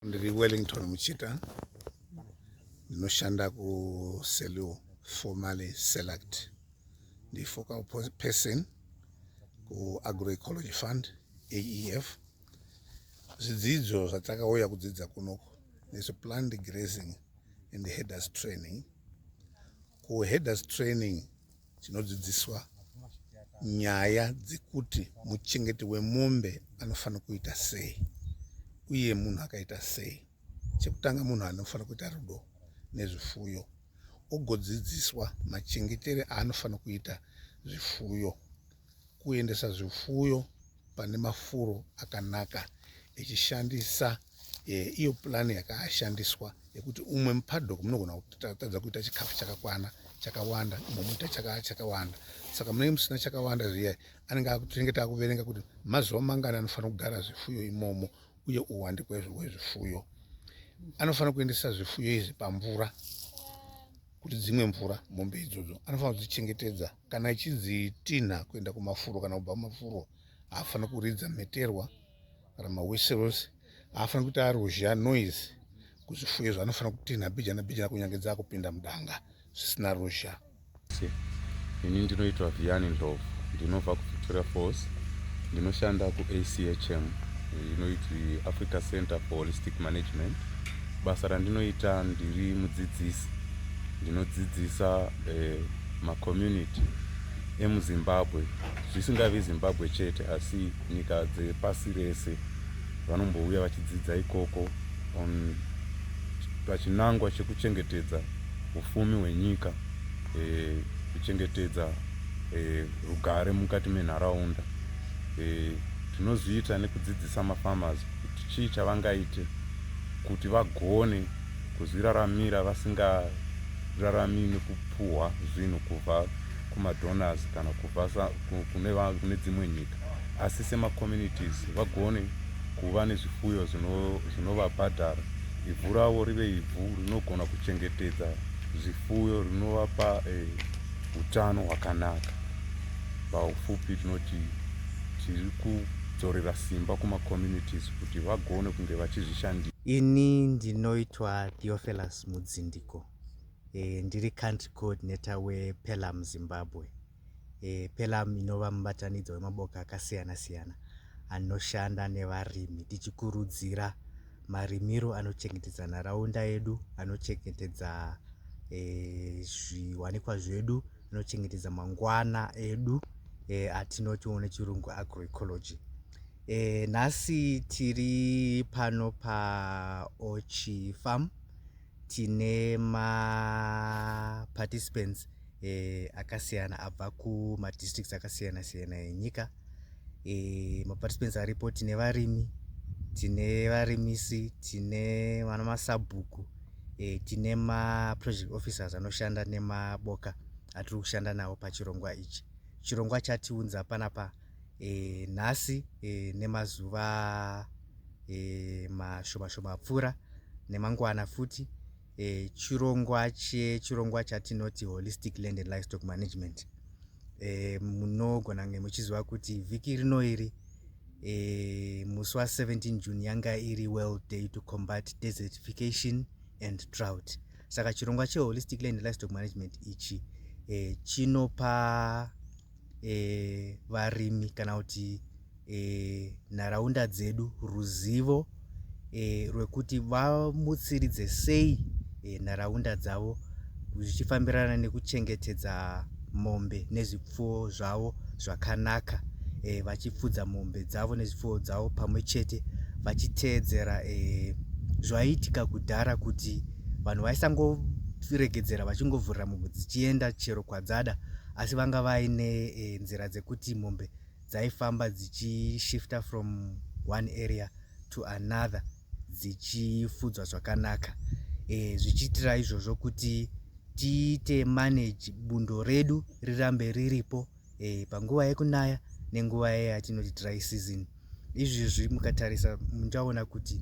Ndiri Wellington Muchita, ndinoshanda kuSelou, formerly Select. Ndi focal person kuAgroecology Fund, AEF. Zvidzidzo zvatakauya kudzidza kunoku nezveplanned grazing and headers training. KuHeaders training tinodzidziswa nyaya dzekuti muchengeti wemombe anofanira kuita sei uye munhu akaita sei chekutanga munhu anofanira kuita rudo nezvifuyo ogodzidziswa machengetere aanofanira kuita zvifuyo kuendesa zvifuyo pane mafuro akanaka echishandisa eh, iyo purani yakashandiswa yekuti umwe mupadok munogona kutadza kuita chikafu chakakwana chakawanda umwe muita chakawanda saka munenge musina chakawanda zviya anenge tinenge takuverenga kuti mazuva mangani anofanira kugara zvifuyo imomo uye uwandi kwezvifuyo anofanira kuendesa zvifuyo izvi pamvura kuti dzimwe mvura mombe idzodzo anofanira kudzichengetedza kana ichinzi tinha kuenda kumafuro kana kubva kumafuro haafani kuridza mheterwa kana mawhiseros haafani kuita aruzha noise kuzvifuyo izvo anofana kutinha bijana bijana kunyange dzaakupinda mudanga zvisina ruzha ini ndinoitwa viani ndlovu ndinobva kuvictoria falls ndinoshanda kuachm inoiti africa center for holistic management basa randinoita ndiri mudzidzisi ndinodzidzisa eh, macommunity emuzimbabwe zvisingavi zimbabwe chete asi nyika dzepasi rese vanombouya vachidzidza ikoko on pachinangwa chekuchengetedza ufumi hwenyika e, kuchengetedza e, rugare mukati menharaunda e, tinozviita nekudzidzisa mafarmers kuti chii chavangaite kuti vagone kuzviraramira vasingararamii nekupuhwa zvinhu kubva kumadonors kana kubva kune dzimwe nyika asi semacommunities vagone kuva nezvifuyo zvinovabhadhara ivhu ravo rive ivhu rinogona kuchengetedza zvifuyo rinovapa eh, utano hwakanaka paufupi tinoti tiri kudzorera simba kumacommunities kuti vagone kunge vachizvishandira. Ini ndinoitwa Theophilus Mudzindiko e, ndiri country coordinator wePELAM Zimbabwe. E, PELAM inova mubatanidzo wemaboka akasiyana siyana anoshanda nevarimi tichikurudzira marimiro anochengetedza nharaunda yedu anochengetedza e, zviwanikwa zvedu anochengetedza mangwana edu e, atinoti one chirungu agroecology E, nhasi tiri pano paochi farm tine maparticipants e, akasiyana abva kumadistricts akasiyana siyana enyika e, eh, maparticipants aripo tine varimi tine varimisi tine vana masabhuku e, tine maproject officers anoshanda nemaboka atiri kushanda nawo pachirongwa ichi chirongwa chatiunza panapa pa, e, nhasi e, nemazuva e, mashoma shoma apfuura nemangwana futi e, chirongwa chechirongwa chatinoti holistic land and livestock management e, munogona kunge muchiziva kuti vhiki rino iri e, musi wa17 june yanga iri world day to combat desertification and drought saka chirongwa cheholistic land and livestock management ichi e, chinopa e, varimi kana kuti e, nharaunda dzedu ruzivo e, rwekuti vamutsiridze sei e, nharaunda dzavo zvichifambirana nekuchengetedza mombe nezvipfuwo zvavo zvakanaka e, vachipfudza mombe dzavo nezvipfuwo dzavo pamwe chete vachiteedzera e, zvaiitika kudhara kuti vanhu vaisangoregedzera vachingovhurira mombe dzichienda chero kwadzada asi vanga vaine e, nzira dzekuti mombe dzaifamba dzichishifta from one area to another dzichifudzwa zvakanaka e, zvichiitira izvozvo kuti tiite manage bundo redu rirambe riripo e, panguva yekunaya nenguva yayatinoti dry season izvezvi mukatarisa muchaona kuti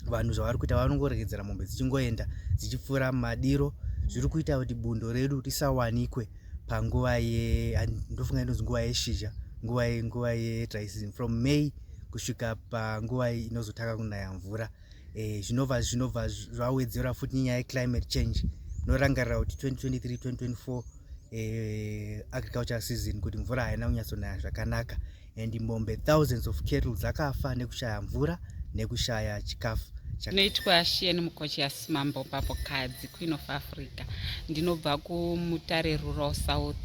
vanhu zvavari kuita vanongoregedzera mombe dzichingoenda dzichipfuura madiro zviri kuita kuti bundo redu risawanikwe panguva yendofunga inonzi nguva yeshizha nguva nguva yedraisn from may kusvika panguva inozotanga kunaya mvura eh, zvinobva zvinobva zvawedzera futi nyaya yeclimate change norangarira kuti 2023 2024 eh, agriculture season kuti mvura haina kunyatsonaya zvakanaka and mombe thousands of cattle dzakafa nekushaya mvura nekushaya chikafu ndinoitwa shieni mukochiasi mambo papo kadzi queen of africa ndinobva kumutare rural south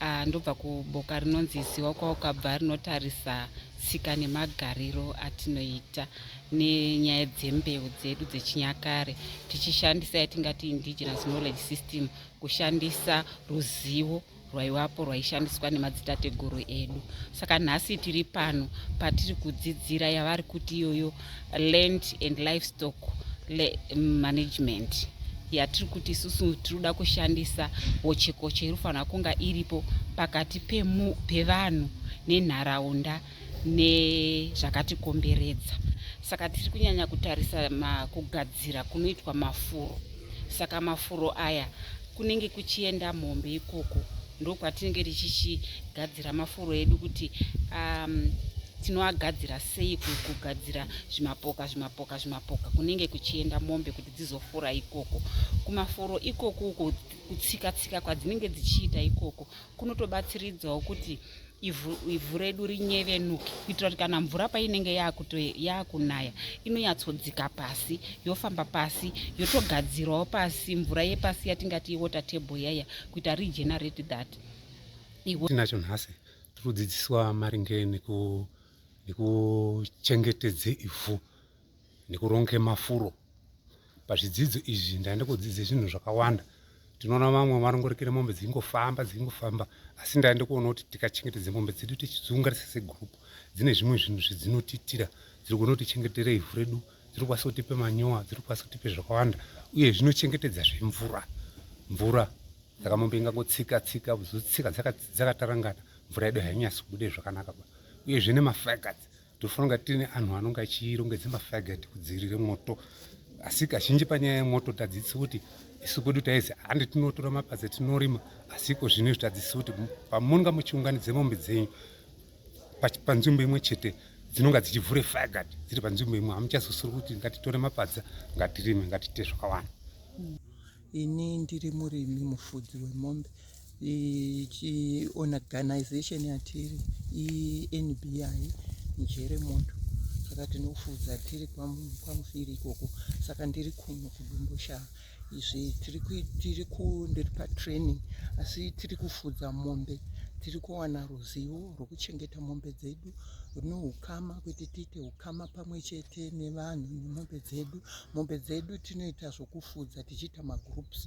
uh, ndobva kuboka rinonzi ziwa kwaukabva rinotarisa tsika nemagariro atinoita nenyaya dzembeu dzedu dzechinyakare tichishandisa yatingati indigenous knowledge system kushandisa ruzivo rwaivapo rwaishandiswa nemadzitateguru edu saka nhasi tiri pano patiri kudzidzira yavari kuti iyoyo land and livestock management yatiri kuti isusu tiri kuda kushandisa hochekoche iri kufanira kunga iripo pakati pevanhu nenharaunda nezvakatikomberedza saka tiri kunyanya kutarisa kugadzira kunoitwa mafuro saka mafuro aya kunenge kuchienda mombe ikoko ndokwatinenge tichichigadzira mafuro edu kuti um, tinoagadzira sei kugadzira zvimapoka zvimapoka zvimapoka kunenge kuchienda mombe kuti dzizofura ikoko kumafuro ikoko uko kutsika tsika kwadzinenge dzichiita ikoko kunotobatsiridzawo kuti ivhu, ivhu redu rinyevenuke kuitira kuti kana mvura painenge yaakunaya inonyatsodzika pasi yofamba pasi yotogadzirawo pasi mvura yepasi yatingati iwater table yaya kuita regenerate that tinacho nhasi tiri kudzidziswa maringe nekuchengetedze ivhu nekuronge mafuro pazvidzidzo izvi ndaenda kudzidza zvinhu zvakawanda tinoona vamwe varongorekere mombe dzingofamba dzingofamba asi ndaenda kuona kuti tikachengetedza mombe dzedu tichidziungarisa segroup dzine zvimwe zvinhu zvedzinotiitira dziri kuona kuti chengetera ivhu redu dziri kukwanisa kutipe manyowa dziri kukwanisa kutipe zvakawanda uye zvinochengetedza zvemvura mvura saka mombe ingangotsika tsika zotsika dzakatarangana mvura yedu hainyasi kubude zvakanaka uyezve nemafakat Tofana kunge tine anhu anonge achirongedza mafagati kudzivirira moto asi kazhinji panyaya yemoto tadzidzi kuti isu kwedu taizi handi tinotora mapadza tinorima asi iko zvino izvi tadzidzi kuti pamunonga muchiunganidze mombe dzenyu panzvimbo imwe chete dzinonga dzichivhure fagati dziri panzvimbo imwe hamuchazosiri kuti ngatitore mapadza ngatirime ngatite zvakawanda mm. Ini ndiri murimi mufudzi wemombe chiorganization yatiri iNBI njere moto saka tinofudza tiri kwamufiri ikoko saka ndiri kuno kudomboshava izvi tiri kundiri patraining asi tiri kufudza mombe tiri kuwana ruzivo rwekuchengeta mombe dzedu rune ukama kuti tiite ukama pamwe chete nevanhu nemombe dzedu mombe dzedu tinoita zvokufudza tichiita magroups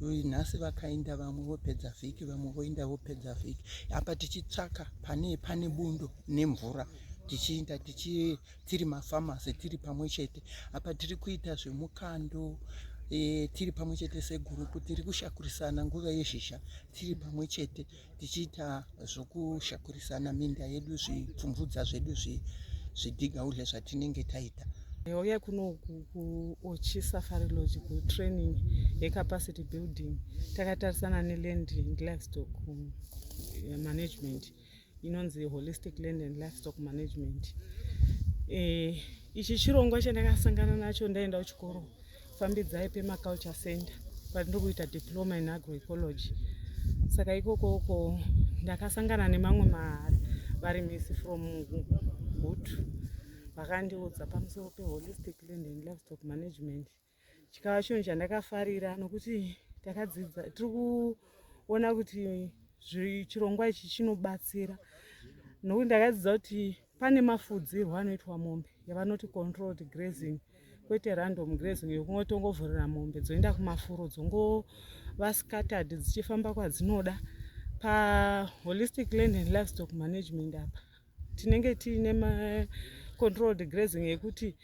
nhasi vakaenda vamwe vopedza vhiki vamwe voenda vopedza vhiki apa tichitsvaka pane pane bundo nemvura tichiinda tichi tiri mafamasi tiri pamwe chete apa tiri kuita zvemukando e, tiri pamwe chete segurupu tiri kushakurisana nguva yezhizha tiri pamwe chete tichiita zvokushakurisana minda yedu zvipfumvudza zvedu zvidhiga udle zvatinenge taita yauya kuno kuochi safari lodge kutraining yecapacity building takatarisana neland and livestock um, management inonzi holistic land and livestock management eh, ichi chirongwa chandakasangana nacho ndaenda kuchikoro fambidzai pema culture center kwandiri kuita diploma in agroecology saka ikoko uko ndakasangana nemamwe marimisi from gutu vakandiudza pamusoro peholistic land and livestock management chikava chinhu chandakafarira nokuti takadzidza tiri kuona kuti chirongwa ichi chinobatsira nokuti ndakadzidza kuti Pane mafudzirwo anoitwa mombe yavanoti controlled grazing kwete random grazing yokungotongovhurira mombe dzoenda kumafuro dzongova scattered dzichifamba kwadzinoda paholistic land and livestock management apa tinenge tiine macontrolled grazing yekuti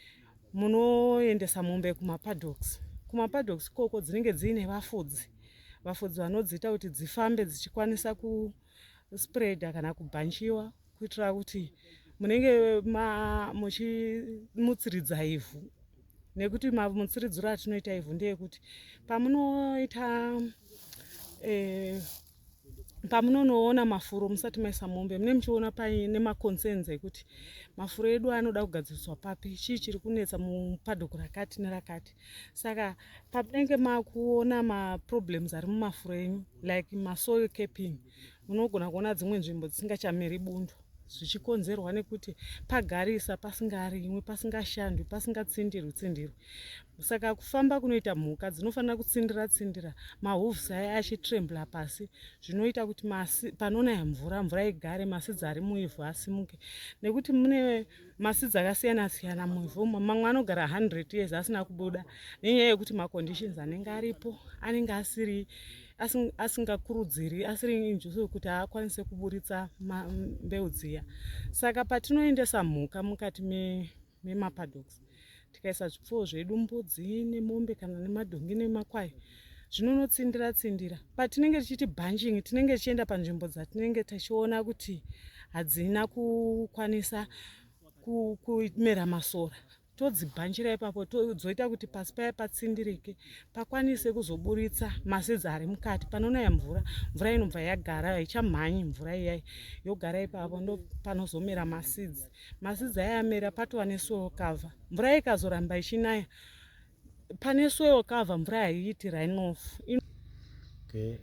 munoendesa mombe kumapadoks kumapadoks ikoko dzinenge dziine vafudzi vafudzi vanodziita kuti dzifambe dzichikwanisa ku kuspreader kana kubhanchiwa kuitira kuti munenge muchimutsiridza ivhu nekuti mamutsiridziro atinoita ivhu ndeyekuti pamunoita eh, pamunonoona mafuro musati maisa mombe mune muchiona paine maconcerns ekuti mafuro edu anoda kugadziriswa papi chii chiri kunetsa mupadoko rakati nerakati saka pamunenge makuona maproblems ari mumafuro enyu like masoil caping munogona kuona dzimwe nzvimbo dzisingachameri bundo zvichikonzerwa nekuti pagarisa pasingarimwi pasingashandwi pasingatsindirwi tsindirwi saka kufamba kunoita mhuka dzinofanira kutsindira tsindira mahoves aya achitrembla pasi zvinoita kuti masi panonaya mvura mvura igare masidzi ari muivhu asimuke nekuti mune masi dzakasiyana siyana muvhu umo mamwe anogara 100 years asina kubuda nenyaya yekuti maconditions anenge aripo anenge asiri asingakurudziri asiri injuso yekuti aakwanise kuburitsa mbeu dziya saka patinoendesa mhuka mukati memapadoks me tikaisa zvipfuwo zvedu mbudzi nemombe kana nemadhongi nemakwai zvinonotsindira tsindira patinenge tichiti bunching tinenge tichienda panzvimbo dzatinenge tichiona kuti hadzina kukwanisa kumera masora todzibhanchira ipapo dzoita kuti pasi paya patsindirike pakwanise kuzoburitsa masidzi ari mukati panonaya mvura mvura inobva yagara haichamhanyi mvura iyai yogara ipapo ndopanozomera masidzi Madzidzi aya amera patova nesoil cover. Mvura ikazoramba ichinaya pane soil cover mvura haiiti runoff. Okay.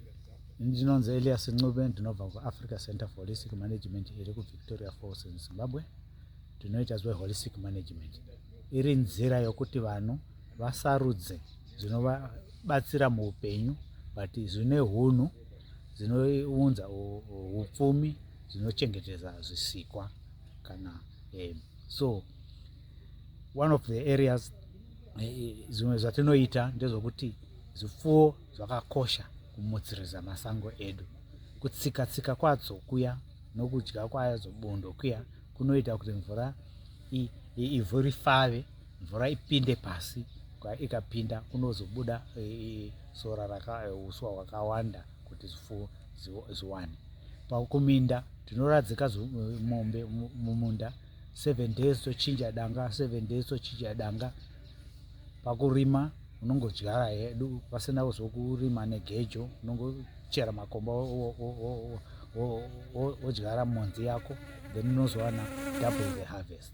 Ndinonzi Elias Ncube ndinobva kuAfrica Center for Holistic Management iri kuVictoria Falls in Zimbabwe. Tinoita zve holistic management. Iri nzira yokuti vanhu vasarudze zvinovabatsira muupenyu but zvine hunhu zvinounza upfumi zvinochengetedza zvisikwa. kana um, so one of the areas eh, zvimwe zvatinoita ndezvokuti zvipfuwo zvakakosha kumutsiriza masango edu kutsika tsika kwadzo kuya nokudya kwadzo bundo kuya kunoita kuti mvura ivhu rifave mvura ipinde pasi ikapinda kunozobuda e, e, sora rakauswa e, hwakawanda kuti zvifuwo ziwani pakuminda tinoradzika mombe mumunda seven days tochinja danga seven days tochinja danga pakurima unongodyara hedu pasina kuzokurima negejo unongochera makomba wodyara monzi yako then unozowana double the harvest